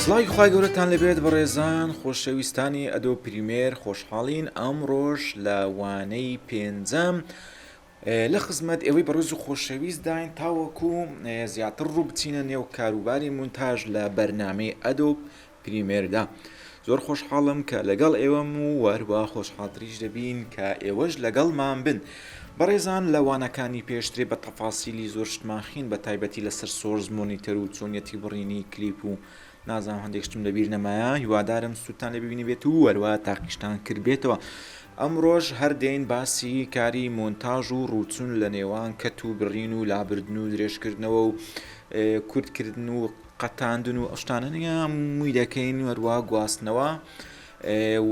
سڵاوی خخوای گەورەتان لەبێت بەڕێزان خۆشەویستانی ئەدۆ پریمێر خۆشحاڵین ئەم ڕۆژ لە وانەی پێنجەم لە خزمەت ئێوەی بەڕێز و خۆشەویست داین تاوەکو زیاتر ڕوو بچینە نێو کاروباری مونتاژ لە بەرنمەی ئەدۆ پریمێردا زۆر خۆشحاڵم کە لەگەڵ ئێوەم و وەروا خۆشحاڵتریش دەبین کە ئێوەش لەگەڵمان بن بەڕێزان لە وانەکانی پێشتری بە تەفاسیلی زۆر شتمان خین بە تایبەتی لەسەر سۆرز مۆنیتەر و چۆنیەتی بڕینی کلیپ و نازانم هەندێک شتم لەبیر نەمایە هیوادارم سووتان لە ببینی بێت و وەروا تاقیشتان کرد بێتەوە ئەمڕۆژ هەردەین باسی کاری مۆنتاژ و ڕوچون لە نێوان کەت و بڕین و لابردن و درێژکردنەوە و کورتکردن و قەتاندن و ئەو شتانە نییە مووی دەکەین هەروە گواستنەوە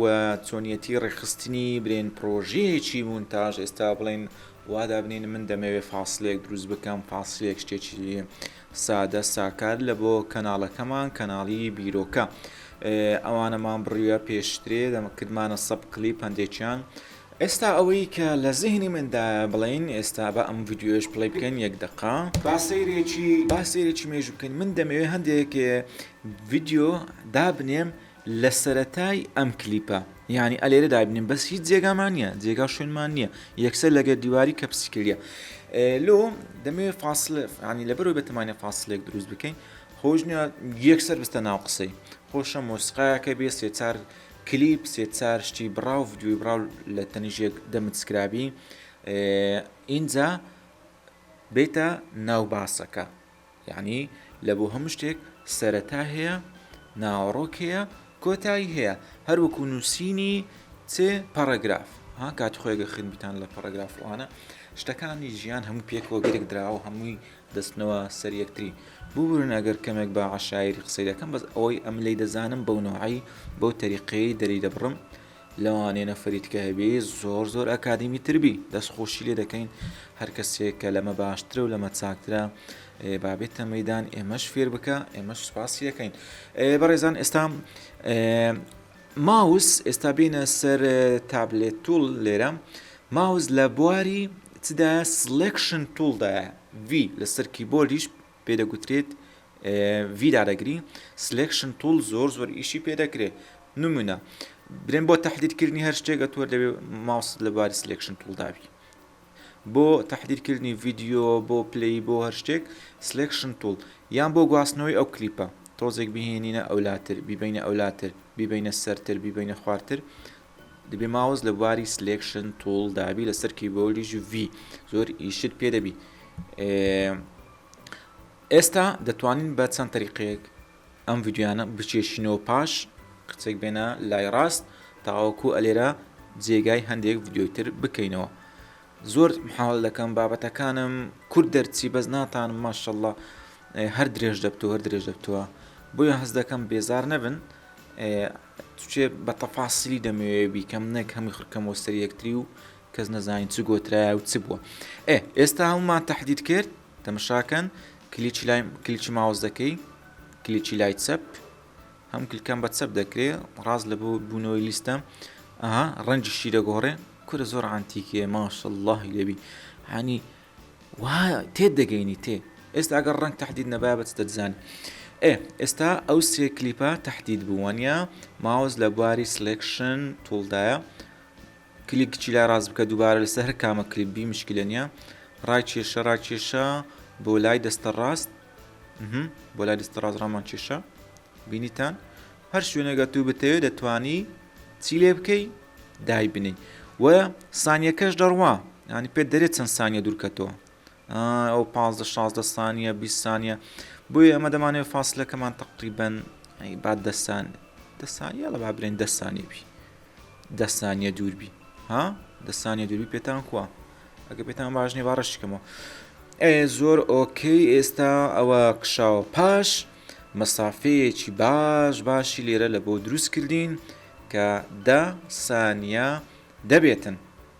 و چۆنیەتی ڕێکخستنی برێن پرۆژەیەکی مونتاژ ئێستا بڵێن وادابنین من دەمەوێت فاصلێک دروست بکەم فاصلێک شتێکی سادە ساکار لە بۆ کەناڵەکەمان کەناڵی بیرۆکە ئەوانەمان بڕیە پێشترێ دەمەکردمانە سەب کلیپ هەندێکیان ئێستا ئەوەی کە لە زیهنی مندایە بڵێین ئێستا با ئەم ڤیدیۆیەش پلەی بکەین یەک دەقە با سەیرێکی با سەیرێکی مێژوو بکەین من دەمەوێ هەندێک ڤیدیۆ دابنێم لە سەرەتای ئەم کلیپە یعنی ئەلێرە دابنێم بەس هیچ جێگامان نییە جێگا شوێنمان نییە یەکسەر لەگەر دیواری کە پسیکردە لۆ دەمێ فاصل عنی لە بەرەوە بەتمانە فاصلێک دروست بکەین خۆشنە یەکسەر بستە ناو قسەی خۆشە مۆسقایەکە بێ سێچار کلیپ سێ چار شتی بڕاو ڤدیۆی بڕاو لە تەنیش یەک دەمت سکرابی ئینجا بێتە ناو باسەکە یعنی لە بۆ هەموو شتێک سەرەتا هەیە ناوەڕۆک هەیە کۆتایی هەیە هەروەکو نووسینی چ پەڕگراف ها کات خۆێگە خوێنبیتان لە پەڕگرافوانە شتەکانی ژیان هەموو پێکەوە گرێک دراوە هەمووی دەچنەوە سەر یەکتری. ببورن ئەگەر کەمێک بە عەشایری قسەی دەکەم بەس ئەوەی ئەم لێی دەزانم بەو نەوعەی بەو تەریقەیەی دەری دەبڕم لەوانەیە نەفەری تکە هەبێ زۆر زۆر ئەکادیمی تر بی دەست خۆشی لێ دەکەین هەر کەسێک کە لەمە باشترە و لەمە چاکترە با بێتە مەیدان ئێمەش فێر بکا ئێمەش سوپاسی ئەکەین بەڕێزان ئێستا ماوس، ئێستا بێینە سەر تابلێت توڵ لێرە ماوس لە بواری چدایە سڵێکشن توڵ دایە ڤی لەسەر کیبۆردیش پێ دەگوترێت ڤی دادەگری سلێکشن توڵ زۆر زۆر ئیشی پێ دەکرێت نمونە برێن بۆ تهدیدکردنی هەر شتێکە تۆ دەبێت ماوس لە بواری سلێکشن توڵ دابی بۆ تەحدیر کردنی ڤیدیۆ بۆ پلەی بۆ هەر شتێک سلێکشن توڵ یان بۆ گواستنەوەی ئەو کلیپە تۆزێک بیهێنینە ئەولاتر بیبەینە ئەولاتر بیبەینە سەرتر بیبەینە خوارتر دەبێ ماوس لە بواری سلێکشن توڵ دابی لەسەر کیبۆردیش ڤی زۆر ئیشت پێ دەبی ئێستا دەتوانین بە چەند تەریقەیەک ئەم ڤیدیۆیانە بکێشینەوە پاش قچێک بێنە لای ڕاست تاوەکو ئەلێرە جێگای هەندێک ڤیددیۆی تر بکەینەوە زۆر حاڵ دەکەم بابەتەکانم کورد دەرچی بەس ناتان ماشەڵە هەر درێژ دەبتەوە هەر درێژ دەبتەوە بۆیە هەز دەکەم بێزار نەبن توچێ بە تەفاسیلی دەمەوێ بیکەم نەک هەمی خڕکەم وە سەر یەکتری و کەس نەزانین چ گۆترایە و چ بووە ئێ ئێستا هەمومان تهدید کرد تەمەشاکەن کلیکی لای کلیکی ماوس دەکەی کلیکی لای چەپ هەم کلکەم بە چەپ دەکرێ ڕاست لە بۆ بوونەوەی لیستە ئەها ڕەنجی شی دەگۆڕێ کورە زۆر عانتیکێ ماش اللهی لێبی هەنی وا تێ دەگەینی تێ ئێستا ئەگەر ڕنگ تهدید نەبای بەچ دەزانانی ئێ ئێستا ئەو سێ کلیپە تهدید بووانە ماوز لە بواری سلکشن تولدایە کلیپ بچی لای ڕاست بکە دوبارە لەسەر هەر کامە کلیپ بی مشکلە نیە ڕای کێشە ڕای کێشە بۆ لای دەستە ڕاست بۆ لای دەستە ڕاست ڕامان کێشە بینیتان هەر شوێنێگە تو بتەوێت دەتانی چی لێ بکەی دای بنی و سانیەکەش دەڕوا ینی پێ دەرێت چەند سانیە دوورکەتەوە ئەو پ 16 سانیە 20 سانیە بۆیە ئەمە دەمانێت فاصلەکەمان تقریبن بعد دەسان دەسانیە لە بابرێن دەسانێبی دە سانیە دووربی ها دە سانیە دووربی پێتان کووە ئەگە پێتان باش نیە باڕشکەمەوە ئێ زۆر ئۆکەی ئێستا ئەوە کشاوە پاش مەسافەیەکی باش باشی لێرە لە بۆ دروست کردین کە دە سانیە دەبێتن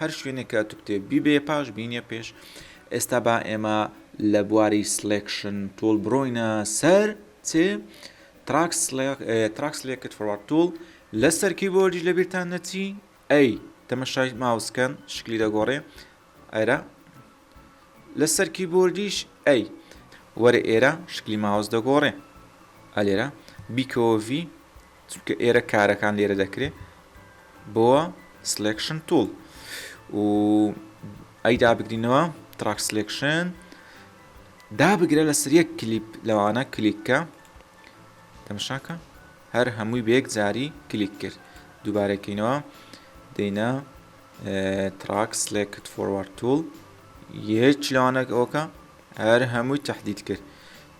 هەر شوێنێک کە ئەتو کتێب بیبەیە پاش بینیە پێش ئێستا با ئێمە لە بواری سلێکشن تۆڵ برۆینە سەر چێ تراکس لێکت فڕات تۆڵ لە سەرکی بۆردیش لە بیرتان نەچی ئەی تەمەشای ماوسکەن شکلی دەگۆڕێ ئەرا لە سەرکی بۆردیش ئەی وەرە ئێرە شکلی ماوس دەگۆڕێ ئەلێرە بیکۆڤی چونکە ئێرە کارەکان لێرە دەکرێت بۆ سلکشن توڵ و ئەی دابگرینەوە تراک سلکشن دابگرە لەسەر یەک کلیپ لەوانە کلیککە تەمشاکە هەر هەمووی بەیەک جاری کلیک کرد دووبارەکەینەوە دەینە تراک سلکت فۆروارد توڵ یەک لەوانەکەەوەکە هەر هەمووی تهدید کرد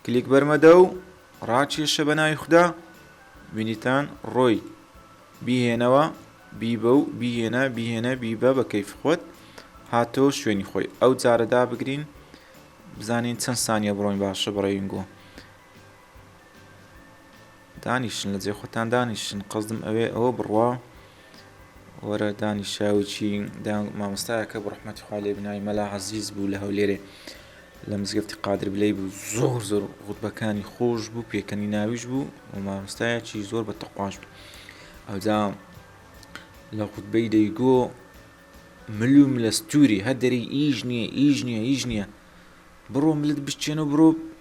کلیک بەرمەدە و ڕاکێشە بە ناوی خودا، بینیتان، ڕۆی، بیهێنەوە، بیبە و بیهێنە، بیهێنە، بیبە بە کەیفی خۆت، هاتەوە شوێنی خۆی. ئەو جارە دابگرین بزانین چەند سانیە بڕۆین باشە بڕێینگۆ. دانیشن لە جێ خۆتان دانیشن قەزدم ئەوێ ئەوە بڕوا. وەرە دانیشە و چی دا مامۆستایەکە بڕحمەتی خوا لێ بناوی مەلا عەزیز بوو لە هەولێرێ لە مزگەفتی قادر بلەی بوو زۆر زۆر غوتبەکانی خۆش بوو پێکەنی ناویش بوو و مامۆستایەکی زۆر بە تەقواش بوو ئەوجا لە غوتبەی دەیگۆ ملو ملەستوری هەدەری ئیش نییە ئیش نییە ئیش نییە بڕۆ ملت بشتێنە و بڕۆ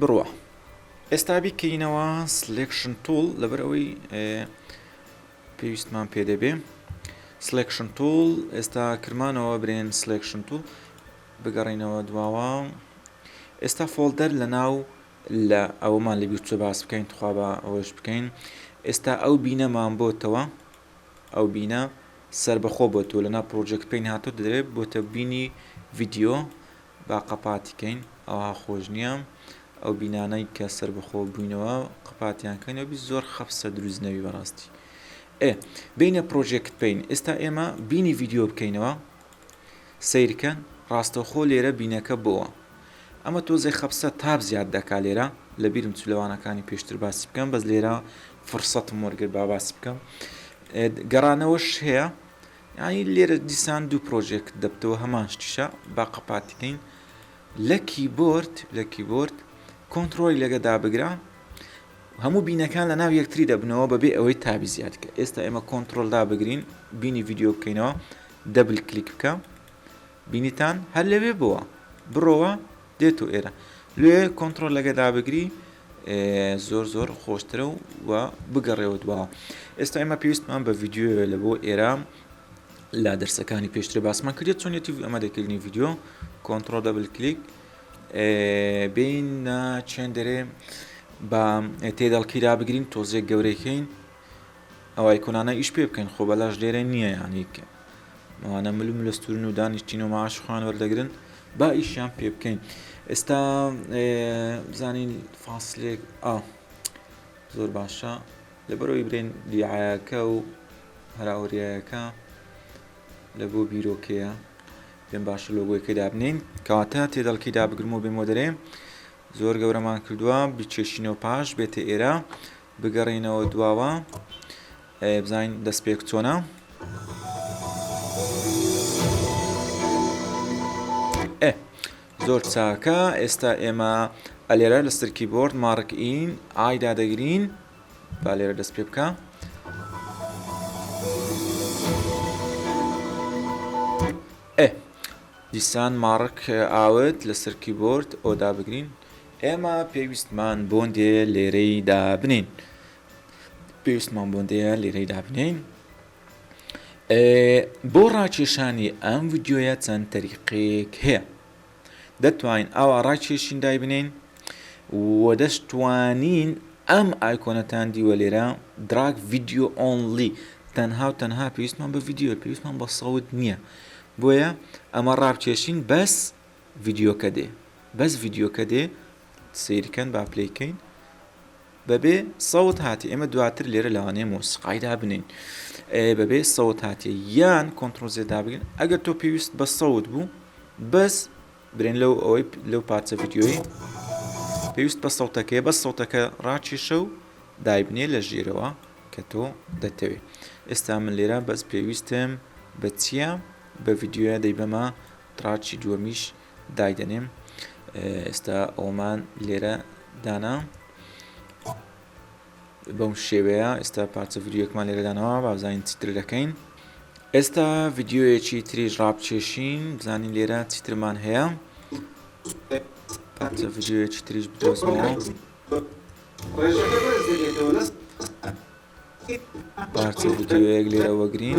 بڕوا ئێستا بیکەینەوە سلێکشن توڵ لەبەر ئەوەی پێویستمان پێ دەبێ سلێکشن توڵ ئێستا کرمانەوە برێن سلێکشن توڵ بگەڕینەوە دواوە ئێستا فۆلدەر لە ناو لە ئەومان لە بیرچە باس بکەین تخوا بە ئەوەش بکەین ئێستا ئەو بینەمان بۆتەوە ئەو بینە سربەخۆ بۆ تۆ لەنا پرۆژێک پێین هاتۆ دەوێت بۆتە بینی ڤیددیو با قەپاتی کەین ئەوها خۆش نییە ئەو بینانەی کە سەربەخۆ بووینەوە قەپاتیان کەین ئەبی زۆر خەفسە دروست نەبی بەڕاستی ئێ بینە پرۆژێکت پین ئێستا ئێمە بینی ڤیدیۆ بکەینەوە سیرکەن ڕاستەوخۆ لێرە بینەکە بۆوە ئەمە تۆزێ خەفسە تاب زیاد دەکا لێرە لە بیرم چ لەوانەکانی پێشتر باسی بکەم بەس لێرە فرسەتم وەرگر با باسی بکەم گەڕانەوەش هەیە یانی لێرە دیسان دوو پرۆژێکت دەبتەوە هەمان شتیشە با قەپاتی کەین لە کیبۆرد لە کیبۆرد کۆنترۆلی لەگە دابگرە هەموو بینەکان لە ناو یەکتری دەبنەوە بەبێ ئەوەی تابی زیاد کە ئێستا ئێمە کۆنتترۆل دابگرین بینی یددیو بکەینەوە دەبل کلیک بکە بینیتان هەر لەوێ بووە بڕەوە دێتۆ ئێرە لۆیێ کۆنتڕۆل لە گەدا بگری زۆر زۆر خۆشترە و و بگەڕێەوە دواوە ئێستا ئێمە پێویستمان بە ڤیددیوە لە بۆ ئێرە لا دەرسەکانی پێشتر باسمان کردێت چۆنێتی ئەمە دەکردنی ڤیددیو کۆنتترۆل دەبل کلیک بین چێن دەرێ بە تێدەڵکیرا بگرین تۆزێک گەورەکەین ئەوای کۆنانە ئیش پێ بکەن خۆ بەلاش لێرە نیە یانی ئەوانە مل و ملستورن و دانیشتین و معاش خۆیان وەردەگرن با ئیشیان پێ بکەین ئێستا بزانین فاسلێک ئا زۆر باشە لەبەرەوەی برێن دیعاەکە و هەراوریایەکە لە بۆ بیرۆکەیە پێم باشە لۆگۆیەکەی دابنین کەواتە تێدەڵکی دابگرم و بێمۆ دەرێ زۆر گەورەمان کردووە بچێشینەوە پاش بێتە ئێرە بگەڕێینەوە دواوە بزانین دەستپێک چۆنە زۆر چاکە ئێستا ئێمە ئەلێرە لە سەرکی بۆرد ماڕک ئین ئایدا دەگرین با لێرە دەست پێ بکە دیسان ماڕک ئاوت لە سەرکی بۆرد ئۆدا بگرین ئێمە پێویستمان بۆندێ لێرەی دابنین پێویستمان بۆندەیە لێرەی دابنین بۆ ڕاکێشانی ئەم ڤیددیویە چەند تەریقێک هەیە دەتوانین ئاوا ڕاکێشین دای بنین و دەشتوانین ئەم ئایکۆنەتان دیوە لێرە دراک ڤیددیو ئۆنلی تەنها و تەنها پێویستمان بە ڤیددیو پێویستمان بە سەوت نییە بۆیە ئەمە ڕابکێشین بەس ڤیدیۆکە دێ بەس ڤیدیۆکە دێ سەیری کەن با پلەی کەین بەبێ سەوت هاتی ئێمە دواتر لێرە لەوانەیە مۆسیقای دابنین بەبێ سەوت هاتی یان کۆنتترۆل زێدا بگرن ئەگەر تۆ پێویست بە سەوت بوو بەس برێن لەو ئەوەی لەو پارچە ڤیددیۆی پێویست بە سەوتەکەی بە سەوتەکە ڕاکێشە و دایبنێ لە ژێرەوە کە تۆ دەتەوێت ئێستا من لێرە بەس پێویستم بە چییە بە ڤیددیوە دەی بەمە تراچی دووەمیش دایدەنێم ئێستا ئەومان لێرە دانا بەم شێوەیە ئێستا پارچە ڤیددیوەکمان لێرەدانەوە بابزانین چیتر دەکەین ئێستا ڤیددیوەیەکی تریش ڕابچێشین بزانین لێرە چیترمان هەیە پارچە ڤیددیوەیەکی تریش بدۆزمەوە پارچە ڤیددیوەیەک لێرە وەگرین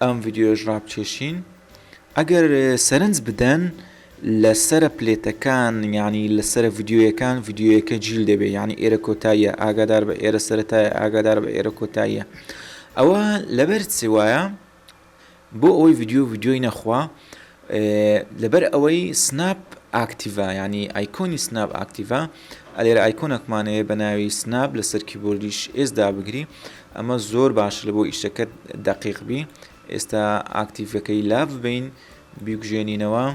ئەم ڤیدیۆیەش ڕابکێشین ئەگەر سەرنج بدەن لە سەرە پلێتەکان یعنی لە سەرە ڤیددیویەکان ڤیددیویەکە جیل دەبێ ینی ئێرە کۆتاییە ئاگادار بە ئێرە سەرەتای ئاگادار بە ئێرە کۆتاییە ئەوە لەبەر چێ وایە بۆ ئەوەی ڤیددیو ڤیددیۆی نەخوا لەبەر ئەوەی سناپ ئاکتیڤە یانی ئایکۆنی سناپ ئاکتیڤە ئەلێرە ئایکۆنەکمان هەیە بە ناوی سناپ لەسەر کیبۆردیش ئێس دابگری ئەمە زۆر باشە لە بۆ ئیشەکەت دەقیق بی ئێستا ئاکتیڤەکەی لاڤ بین بیگوژێنینەوە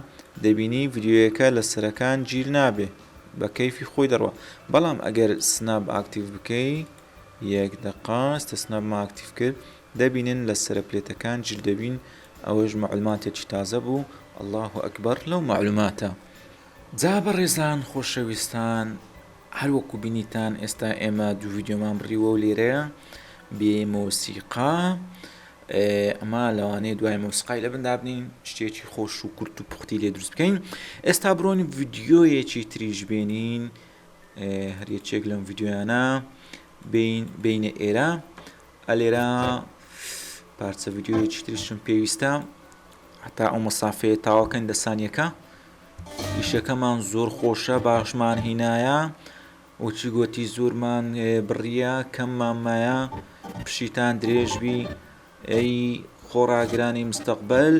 دەبینی ڤیددیوەکە لە سەرەکان گیر نابێ بە کەیفی خۆی دەڕوە بەڵام ئەگەر سناپ ئاکتیڤ بکەی یەک دەقاستە سناپ ماکتیف کرد دەبینن لە سەرە پلێتەکان جل دەبین ئەوەش مەعلوماتێکی تازە بوو اللە اکبر لەو مەعلوماتە. جا بەڕێزان خۆشەویستان هەر وەکو بینیتان ئێستا ئێمە دوو ڤیدیۆمان بڕیوە و لێرەیە بێ مۆسیقا ئەمە لەوانەیە دوای مۆسیقای لەبن دابنین شتێکی خۆش و کورت و پوختی لێ دروست بکەین ئێستا بڕۆین ڤیدیۆیەکی تریش بێنین هەر یەکێک لەم ڤیدیۆیانە بین بینە ئێرە ئە لێرە پارچە ڤیدیۆیەکی تریشم پێویستە هەتا ئەو مەسافەیە تاواکەین دە سانیەکە ئیشەکەمان زۆر خۆشە باشمان هینایە وچی گوتی زۆرمان بڕیە کەممان مایە پشیتان درێژبی ئەی خۆڕاگرانی مستەقبل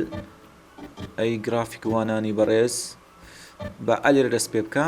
ئەی گرافیکوانانی بەڕێز بە ئەلێر دەست پێ بکە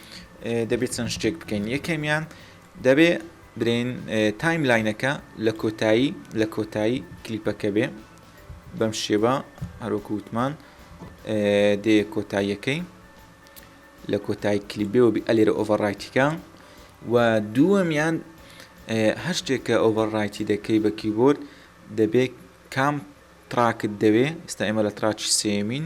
دەبێت چەند شتێک بکەین یەکەمیان دەبێ برێن تایم لاینەکە لە کۆتایی لە کۆتایی کلیپەکە بێ بەم شێبە هەروەکو وتمان دێ کۆتاییەکەی لە کۆتای کلیبێەوە بی ئەلێرە ئۆڤەڕایتیکە و دووەمیان هەر شتێکە ئۆڤەڕایتی دەکەی بە کیبۆرد دەبێت کام تراکت دەوێ ئستا ئێمە لە تراچی سێمین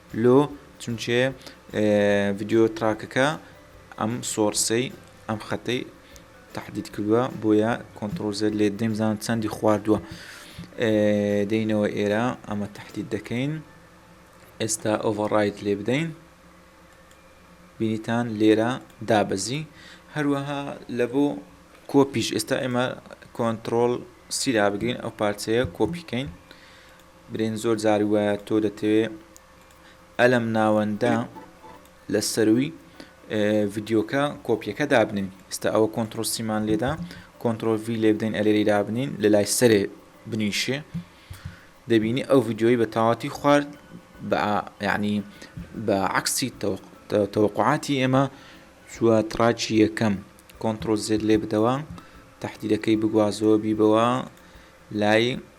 لۆ چونکێ ڤیدیۆ تڕاکەکە ئەم سۆڕسەی ئەم خەتەی تهدید کردووە بۆیە کۆنتترۆل زێت لێ دەیم زان چەندی خواردووە دەینەوە ئێرە ئەمە تهدید دەکەین ئێستا ئۆڤڕایت لێ بدەین بینیتان لێرە دابەزی هەروەها لە بۆ کۆپیش ئێستا ئێمە کۆنتترۆل سیرا بگرین ئەو پارچەیە کۆپیکەین برێن زۆر جار وایە تۆ دەتەوێ ئەلەم ناوەندە لە سەروی ڤیدیۆکە کۆپیەکە دابنین ئستا ئەوە کۆنتترۆل سیمان لێدا کۆنتترۆل وی لێ بدەین ئەلێری دابنین لە لای سەرێ بنیشێ دەبینی ئەو ڤیددیۆی بە تاواتی خوارد بە یعنی بە عکسی تەوقعاتی ئێمە چوە تراچی یەکەم کۆنتترۆل زێت لێ بدەوە تهدیدەکەی بگوازەوە بیبەوە لای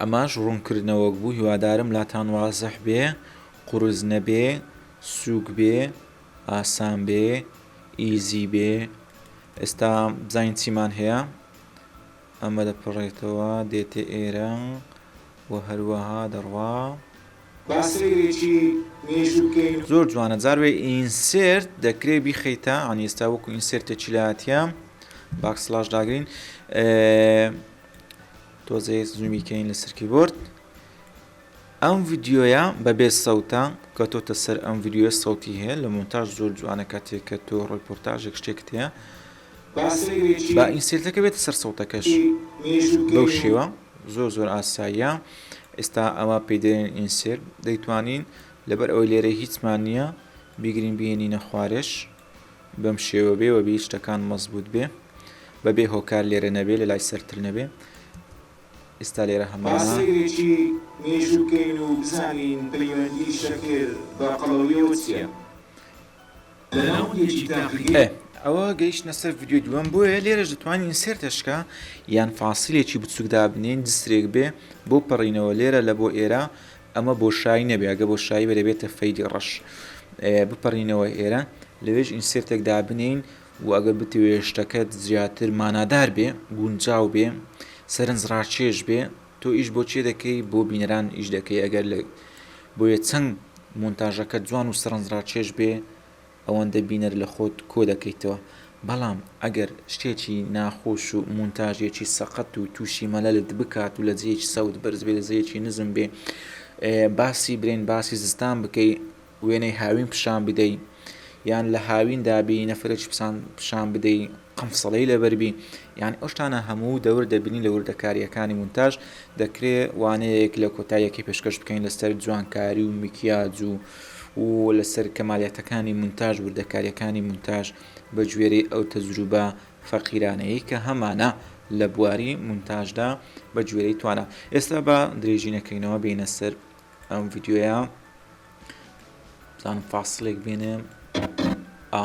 ئەمەش ڕونکردنەوەک بوو هیوادارم لاتان وازح بێ قورس نەبێ سوک بێ ئاسان بێ ئیزی بێ ئێستا بزانین چیمان هەیە ئەمە دەپەڕێتەوە دێتە ئێرە و هەروەها دەڕوا. با سەیرێکی مێژوو بکەین. زۆر جوانە جار وێ ئینسێرت دەکرێ بیخەیتە یانی ئێستا وەکو ئینسێرتێکی لاتیە باکسڵاش داگرین ئێ. تۆزێ زوومی کەین لەسەر کیبۆرد. ئەم ڤیدیۆیە بەبێ سەوتە کەتۆتە سەر ئەم ڤیدیۆیە سەوتی هەیە لە مۆنتاژ زۆر جوانە کاتێک کە تۆ ڕیپۆرتاژێک شتێکت هەیە با ئینسێرتەکە بێتە سەر سەوتەکەش بەو شێوە زۆر زۆر ئاساییە ئێستا ئەوە پێی دەێن ئینسێر دەیتوانین لەبەر ئەوەی لێرە هیچمان نییە بیگرین بهێنینە خوارێش بەم شێوە بێ وەبێی شتەکان مەزبووت بێ بەبێ هۆکار لێرە نەبێ لەلای سەرتر نەبێ ئیستا لێرە هەمانە. با سەیرێکی مێژوو بکەین و بزانین پەیوەندی شەکر بە قەڵەویەوە چیە لە ناوەندێکی تاقیگە. ئێ ئەوە گەیشتنە سەر ڤیدیۆی دووەم بۆیە لێرەش دەتوانین ئینسێرتە شکا یان فاسیلێکی بچووک دابنێین جسرێک بێ بۆ پەڕینەوە لێرە لە بۆ ئێرە ئەمە بۆشایی نەبێ ئەگە بۆشایی بێ دەبێتە فەیلی ڕەش بپەڕینەوە ئێرە لەوێش ئینسێرتێک دابنێین و ئەگەر بتوێ شتەکەت زیاتر مانادار بێ گونجاو بێ سەرنج ڕاچێش بێ تۆ ئیش بۆ چێ دەکەی بۆ بینەران ئیش دەکەی ئەگەر لە بۆیە چەند مونتاژەکە جوان و سەرنج ڕاچێش بێ ئەوەندە بینەر لە خۆت کۆ دەکەیتەوە، بەڵام ئەگەر شتێکی ناخۆش و مونتاژێکی سەقەت و تووشی مەلەلت بکات و لە جێیەکی سەوت بەرز بێ لە جێیەکی نزم بێ باسی برێن باسی زستان بکەی وێنەی هاوین پیشان بدەی یان لە هاویندا بی نەفرەکی پیشان بدەی قەمسڵەی لەبەربی یان ئەو شتانە هەموو دەور دەبینی لە وردەکارییەکانی مونتاژ، دەکرێ وانەیەک لە کۆتای یەکەی پێشکەش بکەین لەسەر جوانکاری و میکیاج و و لەسەر کەمالیاتەکانی مونتاژ وردەکارییەکانی مونتاژ بە گوێرەی ئەو تەجروبە فەقیرانەیەی کە هەمانە لە بواری مونتاژدا بە گوێرەی توانا ئێستا با درێژی نەکەینەوە بێینە سەر ئەم ڤیدیۆیە بزانم فاسڵێک بێنێ ئا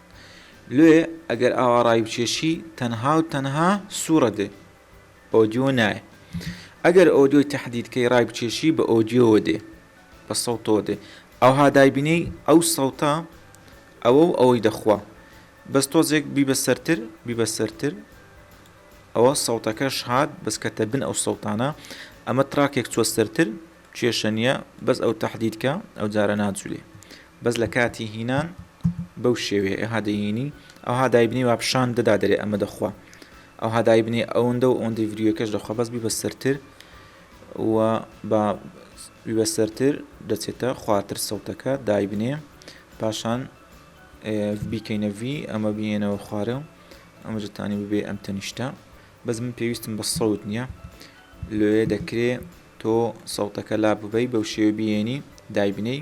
لۆیێ ئەگەر ئاوا ڕای بکێشی تەنها و تەنها سوڕە دێ ئۆدیۆ نایێ ئەگەر ئۆدیۆی تەحدید کەی ڕای بکێشی بە ئۆدیۆوە دێ بە سەوتەوە دێ ئەوها دایبنێی ئەو سەوتە ئەوە و ئەوەی دەخوا بەس تۆزێک بیبە سەرتر بیبە سەرتر ئەوە سەوتەکەش هات بەس کەتە بن ئەو سەوتانە ئەمە تراکێک چوە سەرتر کێشە نیە بەس ئەو تهدیدکە ئەو جارە ناجولێ بەس لە کاتی هینان بەو شێوەیە ئێها دەیینی ئەوها دایبنێ وا پشان دەدا دەرێ ئەمە دەخوا ئەوها دایبنێ ئەوندە و ئەوندەی ڤریۆکەش دەخوا بەس بیبە سەرتر و با بیبە سەرتر دەچێتە خواتر سەوتەکە دایبنێ پاشان بیکەینە ڤی ئەمە بینەوە خوارە و ئەمە جتانی ببێ ئەم تەنیشتە بەس من پێویستم بە سەوت نییە لێ دەکرێ تۆ سەوتەکە لا ببەی بەو شێوە بینی دایبنەی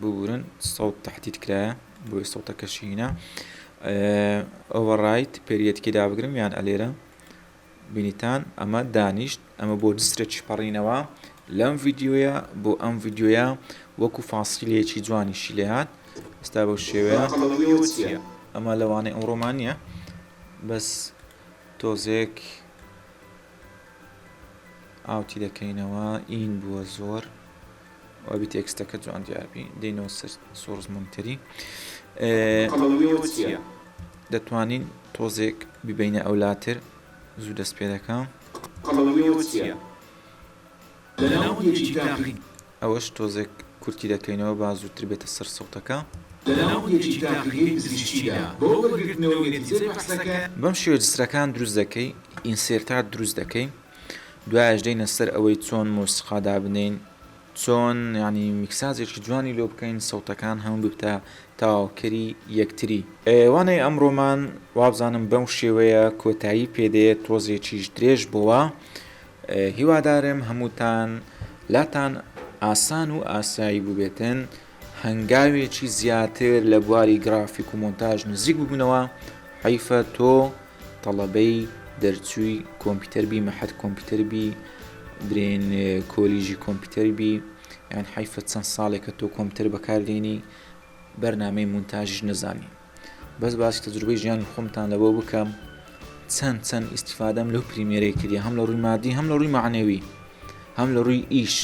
ببورن سەوت تەحدید کرایە بۆیە سەوتەکە شینە ئۆڤەڕایت پێریەتکی دابگرم یان ئەلێرە بینیتان ئەمە دانیشت ئەمە بۆ دسترێکی پەڕینەوە لەم ڤیددیوە بۆ ئەم ڤیددیوە وەکو فاسیلەیەکی جوانی شیلەیات ئستا بەو شێوەیە ئەمە لەوانەی ئەوڕۆمانە بەس تۆزێک ئاوتی دەکەینەوە ئین بووە زۆر وابی تێکستەکە جوان دیاربی دەینەوە سەر سۆرزمونتری دەتوانین تۆزێک ببینە ئەولاتر زوو دەست پێ دەکەم لە ناوەندێکی تاقی. ئەوەش تۆزێک کورتی دەکەینەوە با زووتر بێتە سەر سەوتەکە. لە ناوەندێکی تاقیگەی پزیشکیدا بۆ وەرگرتنەوەی نەتیجەی بەحسەکە. بەم شێوەیە جسرەکان دروست دەکەی، ئینسێرتات دروست دەکەی، دوایەش دێینە سەر ئەوەی چۆن مۆسیقا دابنێین، چۆن یانی میکساجێکی جوانی لۆ بکەین، سەوتەکان هەموو ببتە تەواوکەری یەکتری. وانەی ئەمڕۆمان وابزانم بەم شێوەیە کۆتایی پێدێت، تۆزێکیش درێژ بۆوە، هیوادارم هەمووتان لاتان ئاسان و ئاسایی بووبێتن هەنگاوێکی زیاتر لە بواری گرافیک و مۆنتاژ نزیک ببنەوە حیفە تۆ تەڵەبەی دەرچووی کۆمپیوتەر بی مەحەد کۆمپیوتەر بی برێن کۆلیژی کۆمپیوتەر بی یان حیفە چەند ساڵێکە تۆ کۆمپیوتەر بەکاردێنی بەرنامەی مونتاژش نەزانی بەس باسی تەجروبەی ژیانی خۆمتان لەبۆ بکەم چەند چەند ئیسیفادەم لەو پریمێرەی کردی هەم لە ڕووی مادی هەم لە ڕووی معنەوی هەم لە ڕووی ئیش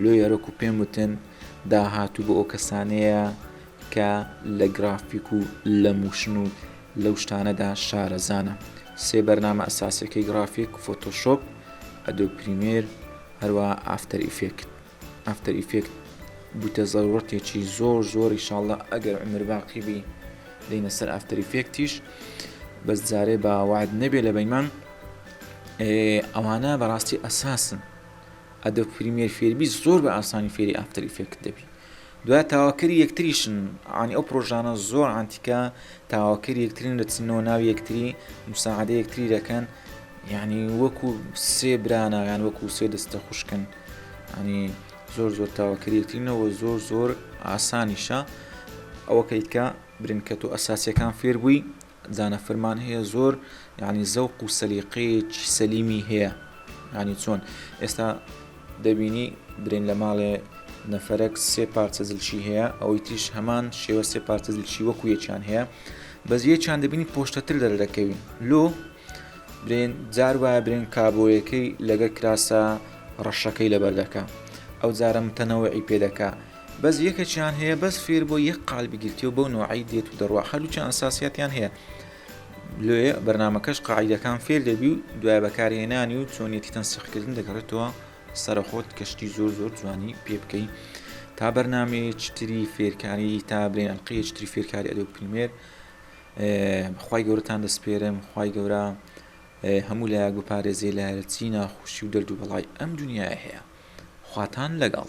لۆ یارۆک و پێم وتن داهاتوو بۆ ئەو کەسانەیە کە لە گرافیک و لە موشن و لەو شتانەدا شارەزانە سێ بەرنامە ئەساسەکەی گرافیک فۆتۆشۆپ ئەدۆ پریمێر هەروە ئافتەر ئیفێکت ئافتەر ئیفێکت بوتە زەروڕتێکی زۆر زۆر ئیشاڵڵا ئەگەر عومر باقی بی دێینە سەر ئافتەر ئیفێکتیش بەس جارێ بە وعد نەبێ لە بەیمان ئەوانە بەڕاستی ئەساسن ئەدە پریمێر فێربی زۆر بە ئاسانی فێری ئافتەر ئیفێکت دەبی دوای تاواکەری یەکتریشن عانی ئەو پرۆژانە زۆر عانتیکە تاواکەری یەکترین دەچنەوە ناو یەکتری مساعدە یەکتری دەکەن یعنی وەکو سێ برانە یان وەکو سێ دەستە خوشکن ینی زۆر زۆر تاواکەری یەکترینەوە زۆر زۆر ئاسانیشە ئەوە کەیتکە برنکەت و ئەساسیەکان فێربووی زانەفرمان هەیە زۆر یعنی زەوق و سەلیقەیەکی سەلیمی هەیە ینی چۆن ئێستا دەبینی برین لە ماڵێ نەفرەك سێ پارچە زلچی هەیە ئەوەی تریش هەمان شێوە سێ پارچە زلچی وەکو یەکیان هەیە بەس یەکیان دەبینی پۆشتەتر دەرە دەکەوین لۆ برێن جار وایە برێن کابۆیەکەی لەگە کراسە ڕەشەکەی لەبەردەکە ئەو جارە متەنەوەی پێدەکە بەس یەکەکیان هەیە بەس فێر بۆ یەک قال بگیرتیەوە بەو نوعی دێت و دەڕوا هەروچە ئەساسیاتیان هەیە لێ بەرنمەکەش قاعدەکان فێر دەبی و دوای بەکارهێنانی و چۆنیەتی تەنسیقکردن دەگەڕێتەوە سەرخۆت کەشتی زۆر زۆر جوانی پێ بکەین تا بەرنمەیە چتری فێرکاری تا برێن قەیە چتری فێرکاری ئەدە پریمێر خی گەورەتان دەسپێرم خی گەورە هەموو لایەک بپارێزێ لایەرچی ناخۆشی و دەرد و بەڵای ئەم دنیای هەیە خواتان لەگەڵ